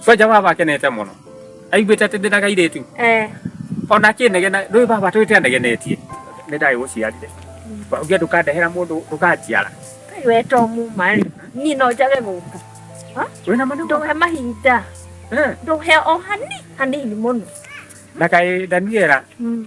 Soja wa baba akenete mũno aiguĩte atĩ ndĩna gairĩtu Eh, ona akĩnegena rĩu baba twĩte anegenetie nĩ ndagĩ gũciarire wauge ndũkandehera mũndũ ndũkanjiara kai we to muma rĩ niĩ no njage gũka wĩna manene ndũhe mahinda Eh, ndũhe o hani hanini mũno na kaĩ Daniela Mm.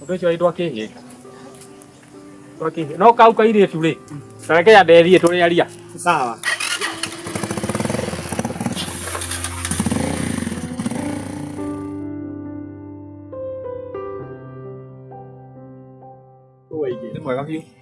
Ũndũ ũcio aitwa kĩhĩ. Kwa kĩhĩ. No kau kairĩtu rĩ. Tareke ya nderi tũrĩ aria. Sawa. Nĩ mwega biũ.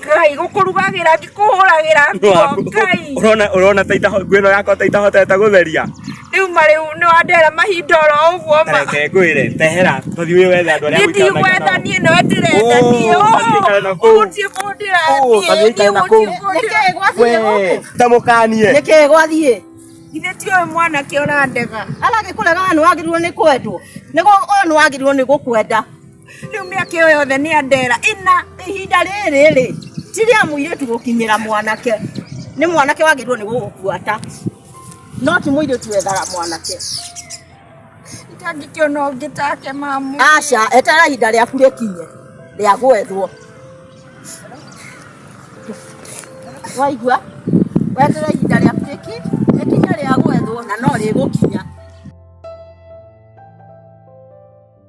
ngai gukurugagĩra ngĩkũhũragĩra nguo ngai urona urona taita nguo ĩno yakwa taita hotete gũtheria rĩu marĩ nĩ wandera mahinda oro ũguo ma reke ngwĩre tehera tũthiĩ wĩ wethe andũ arĩa nĩthiĩ gwetha niĩ no ndĩrenda niĩ ũgũtiĩ kũndĩra niĩ tamũkanie nĩkĩ gwathiĩ githĩ ti ũyũ mwanake ũrandega aragĩkũrega we nĩ wagĩrĩirwo nĩ kwendwo nĩguo ũyũ nĩ wagĩrĩirwo nĩ gũkwenda Rĩu mĩaka ĩyo yothe nĩ andera ĩna ihinda rĩrĩ rĩ ti rĩa mũirĩtu gũkinyĩra mwanake nĩ mwanake wagĩrĩirwo nĩ gũgũbuata no ti mũirĩtu wethaga mwanake itangĩkĩona ũngĩ take mamu aca etera ihinda rĩaku rĩkinye rĩa gwethwo waigua wetera ihinda rĩaku rĩki rĩkinye rĩa gwethwo na no rĩgũkinya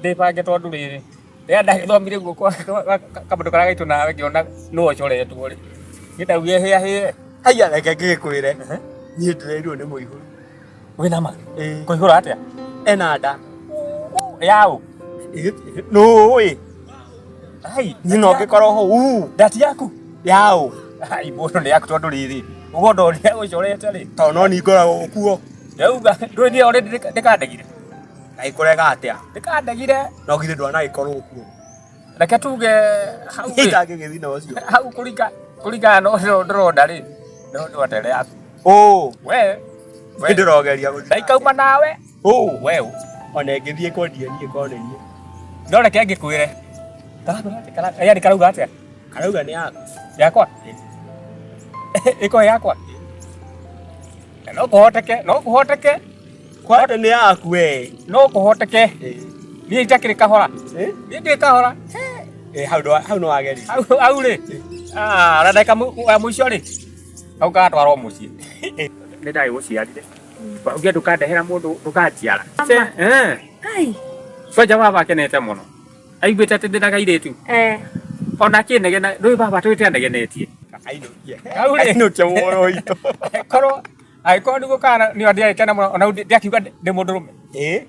ndĩbange tondũ rĩrĩ rĩrĩa ndagĩthomire guo kwa kamũndũ karĩa gaitũ nawe ngĩona nũ ũcoretwo rĩ niĩ ndaugire hĩa hĩa haiya reke ngĩkwĩre niĩ ndĩrerirwo nĩ mũihũru wĩ na ma Ĩĩ. kũihũra atĩa ena nda yaũ nũĩ ai niĩ no ngĩkorwo ho uu ndati yaku yaũ ai mũndũ nĩ yaku tondũ rĩrĩ ũguo ndorĩa ũcorete rĩ tondũ no ningoragwo kuo ndauga ndwĩthia ũrĩ ndĩkandegire na ikurega atia ndikandegire no githe ndwana ikorwo kuo reke tuge hau ri itangigithii na ucio hau kuringa kuringana no no ndurona ri no no ndere yaku oh we we ndirogeria guthii ndaikauma nawe oh we ona ngithii kwendia nie kone nie no reke ngikwire yani karauga atia karauga ni yaku yakwa iko yakwa no kuhoteke no kuhoteke Kwate nĩ yaku we. No kũhoteke. Niĩ itakĩrĩ kahora. Niĩ ndĩ kahora. Eh, hau ndo hau no ageri. Hau hau rĩ. Ah, na ndaka mũico rĩ. Hau gatwarwo mũciĩ. Nĩ ndagĩ gũciarire. Ũngĩ ndũkandehera mũndũ ndũkanjiara. Eh. Ai. Soja baba akenete mũno. Aiguĩte atĩ ndĩ na gairĩtu. Eh. Ona akĩnegena, ndũĩ baba twĩte anegenetie. Ainũkia. Hau rĩ. Ainũkia muoyo witũ. Korwo agĩkorwo nĩguo kana nĩ ndiragĩkena mũno ona ndiakiuga ndĩ mũndũ rũme ĩ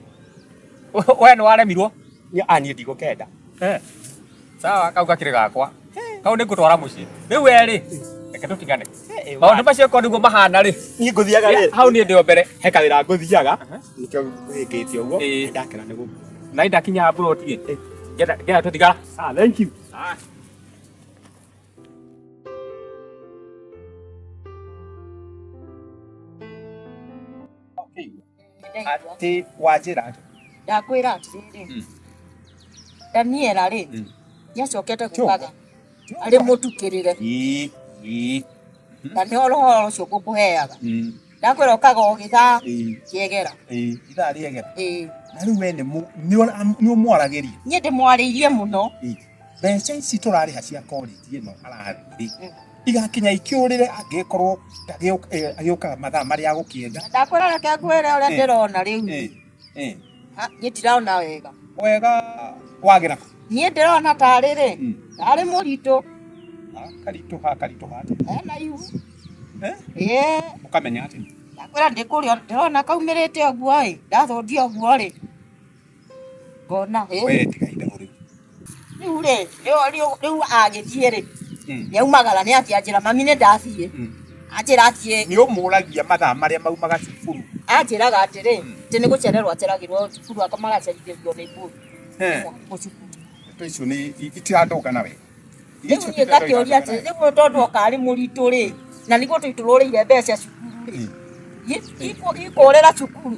we nĩ waremirwo niĩ ndigũkenda eh. sawa kau gakĩrĩ gakwa kau nĩ ngũtwara mũciĩ rĩu erĩ reke tũtigane maũndũ macio korwo nĩguo mahana rĩ niĩ ngũthiaga rĩ hau niĩ ndĩo mbere he kawĩra ngũthiaga nĩkĩo ngũhĩngĩtie ũguo ndakena nĩ gũkũ na indakinya mburoti rĩ ngenda tũtigara ah, thank you ah. atĩ wanjĩra atĩ ndakwĩra atĩrĩrĩ Mm. daniela rĩ Mm. nĩacokete kugaga arĩ mũtukĩrĩre Ii, ii, na nĩ ũhoro ũcio ngũkũheaga mm. ndakwĩra ũkaga o gĩthaa Ĩĩ, kĩegera ĩĩ, ithaa rĩegera Ĩĩ. na rĩu we nĩ mũ- nĩ ũra- nĩ ũmwaragĩria niĩ ndĩmwarĩirie mũno Ĩĩ, mbeca ici tũrarĩha cia korĩti ĩno arathiĩ Mm. igakinya ikĩũrĩre angĩkorwo ndagĩũka- eh, agĩũkaga mathaa marĩa agũkĩenda ndakwĩra reke ngwĩre ũrĩa Eh. ndĩrona rĩu Ĩĩ, Eh. Ah, niĩ ndirona wega wega wagera niĩ ndĩrona tarĩ rĩ Mm. tarĩ mũritũ Ah, karitũ ha karitũ ha ena ihu Eh? ĩĩ ũkamenya atĩ ndakwĩra ndĩkũrĩa ndĩrona kaumĩrĩte ũguo ĩ ndathũndia ũguo rĩ ngona ĩ we tiga ithaũ rĩu rĩu rĩ rĩu agĩthiĩ rĩ yaumagara nĩ atĩ anjĩra mami nĩ ndathiĩ anjĩra atĩ nĩ ũmũragia mathaa marĩa maumaga cukuru anjĩraga atĩrĩ atĩ nĩ gũcererwo aceragĩrwo cukuru akamagacerithĩrio nĩ ngũĩ mũcukuru ndeto icio nĩ itirandoka nawe rĩu niĩ ngakĩũria atĩ rĩu tondũ oka arĩ mũritũ rĩ na nĩ gũtũ itũrũrĩire mbeca cukuru rĩ ikũrĩra cukuru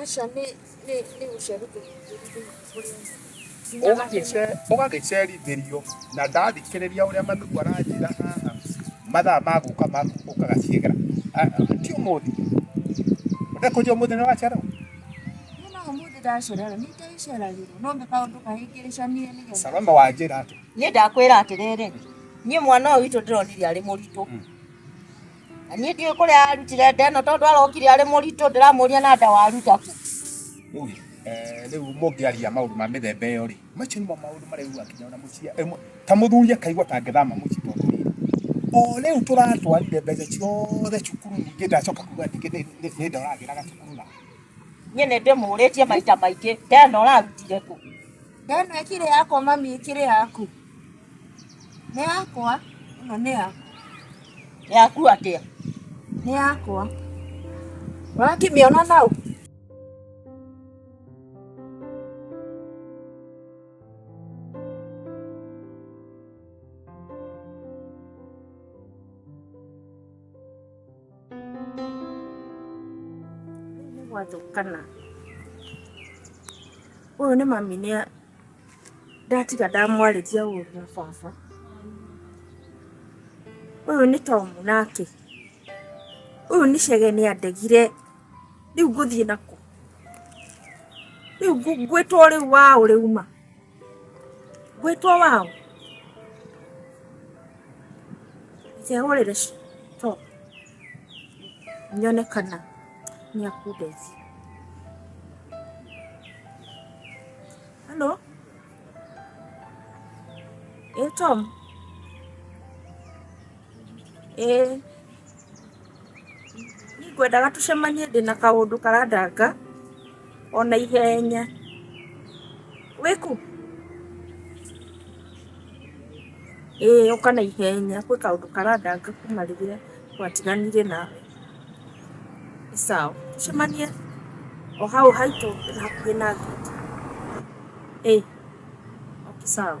Aca nĩ nĩ nĩ gũcerithĩria ũgagĩcerithirio na ndathikĩrĩria ũrĩa manugu aranjĩra haha mathaa ma gũka ma gũkaga ciĩgera Ah, ah, ti ũmũthĩ ndekũnjia ũmũthĩ nĩ wacererwo Nina umuthi ndacererwo nĩ ndaiceragĩrwo no nĩ kaũndũ kahĩngĩrĩcanie nĩgetha salome wanjĩra atĩ niä ndakwä ra atä rä rä niä mwana å witå ndä ronire arä må ritå Na niĩ ndiũĩ kũrĩa arutire nda ĩno tondũ arokire arĩ mũritũ ndĩramũria na nda waruta kũ. Ũĩ, eh, rĩu mũngĩaria maũndũ ma mĩthemba ĩyo rĩ macio nĩmo maũndũ marĩa rĩu akinya ona mũciĩ ĩmwe ta mũthuri akaigua tangĩthama mũciĩ tondũ rĩrĩ o rĩu tũratwarire mbeca ciothe cukuru ningĩ ndacoka kuga ningĩ nĩ- nĩ- nĩ ndoragĩraga cukuru na Niĩ nĩ ndĩmũrĩtie maita maingĩ nda ĩno ũrarutire kũ. Nda ĩno ĩkĩrĩ yakwa mami ĩkĩrĩ yaku. Nĩ yakwa. Ĩno nĩ yakwa. Yaku atĩa? Nĩ yakwa. Ũrakĩmĩona nau? Nĩ gwathũkana. Ũyũ nĩ mami nĩ ndatiga ndamwarĩria ũru na baba ũyũ nĩ tomu nake ũyũ nĩ cege nĩ andegire rĩu ngũthiĩ nakũ rĩu ngũ- ngwĩtwo rĩu waũ rĩu ma ngwĩtwo waũ ndĩkehũrĩre ci- tomu nyone kana nĩ akundeithia. Halo? Ĩĩ Tom? Ĩĩ. Niĩ ngwendaga tũcemanie ndĩna kaũndũ karandanga. ona ihenya wĩku ĩĩ ũka na ihenya kwĩ kaũndũ karandanga kuma rĩrĩa twatiganire nawe Nĩ sawa tũcemanie o hau haitũ hakuhĩ na ngĩti ĩĩ okay sawa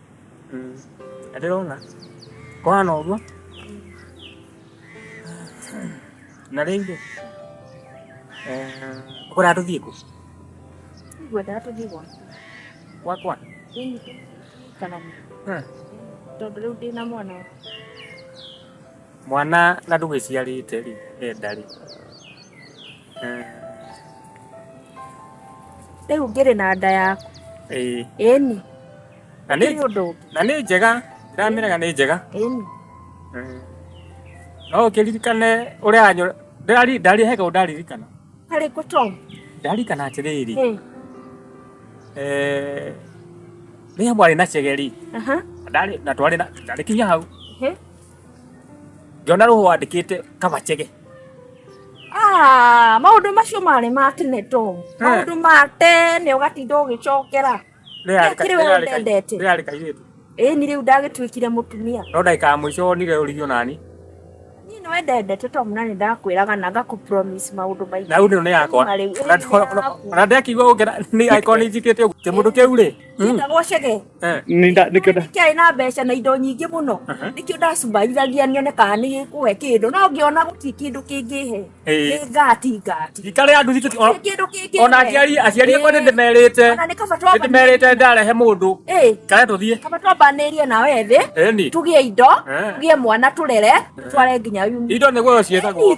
ndĩrona kwana ũguo na rĩngĩ ũkũrĩa tũthiĩ kũ ngwendaga tũthiĩ gwaku gwakwa thĩinĩ kana Hmm. tondũ rĩu ndĩ na mwana mwana na ndũgĩciarĩte rĩ enda rĩ rĩu ngĩrĩ na nda yaku Ĩĩ. ĩni Na nĩ- nĩ ũndũ ũngĩ na nĩ njega ndamĩrega nĩ njega ĩni no ũkĩririkane ũrĩa anyo ndari ndari hega ũndaririkana harĩ kũ tom ndarikana atĩrĩrĩ Ĩ, eh, rĩrĩa mwarĩ na cegeri aha ndarĩ na twarĩ na ndarĩ kinya hau ĩ, ngĩona rũhũ wandĩkĩte kabachege Ah, maũndũ macio marĩ ma tene to Eh. maũndũ ma tene ũgatinda ũgĩcokera Kĩrĩ wee ũtendete. rĩarĩ kairĩtu ĩni rĩu ndagĩtuĩkire mũtumia no ndagĩka ya mũico wonire ũrigio nani niĩ nĩ wendendete to mna nĩ ndakwĩraga na ngakũpromise maũndũ maingĩ na rĩu nĩ yakwa Na rĩu ĩno nĩ yaku. ona ndekigua ũngera nĩ angĩkorwo nĩ njikĩte ũguo kĩmũndũ kĩu rĩ Njĩtagwo cege Eh. Nĩ nda- nĩkĩo nda- kĩarĩ na mbeca na indo nyingĩ mũno Aha. nĩkĩo ndacumbaithagia nyone kana nĩ gĩkũhe kĩndũ no ngĩona gũtirĩ kĩndũ kĩngĩhe Eh. nĩ ngati ngati Thikari ya nduthi tũti- Gũtirĩ kĩndũ kĩngĩhe ona aciari aciari akwa Eh. nĩndĩmerĩte Ona nĩ kaba twamba- nĩndĩmerĩte ndarehe mũndũ Eh, kare tũthiĩ kaba twambanĩrie na wethĩ eni tugĩe indo Eh. tugĩe mwana tũrere tũtware nginya yuni indo nĩguo ciĩtagwo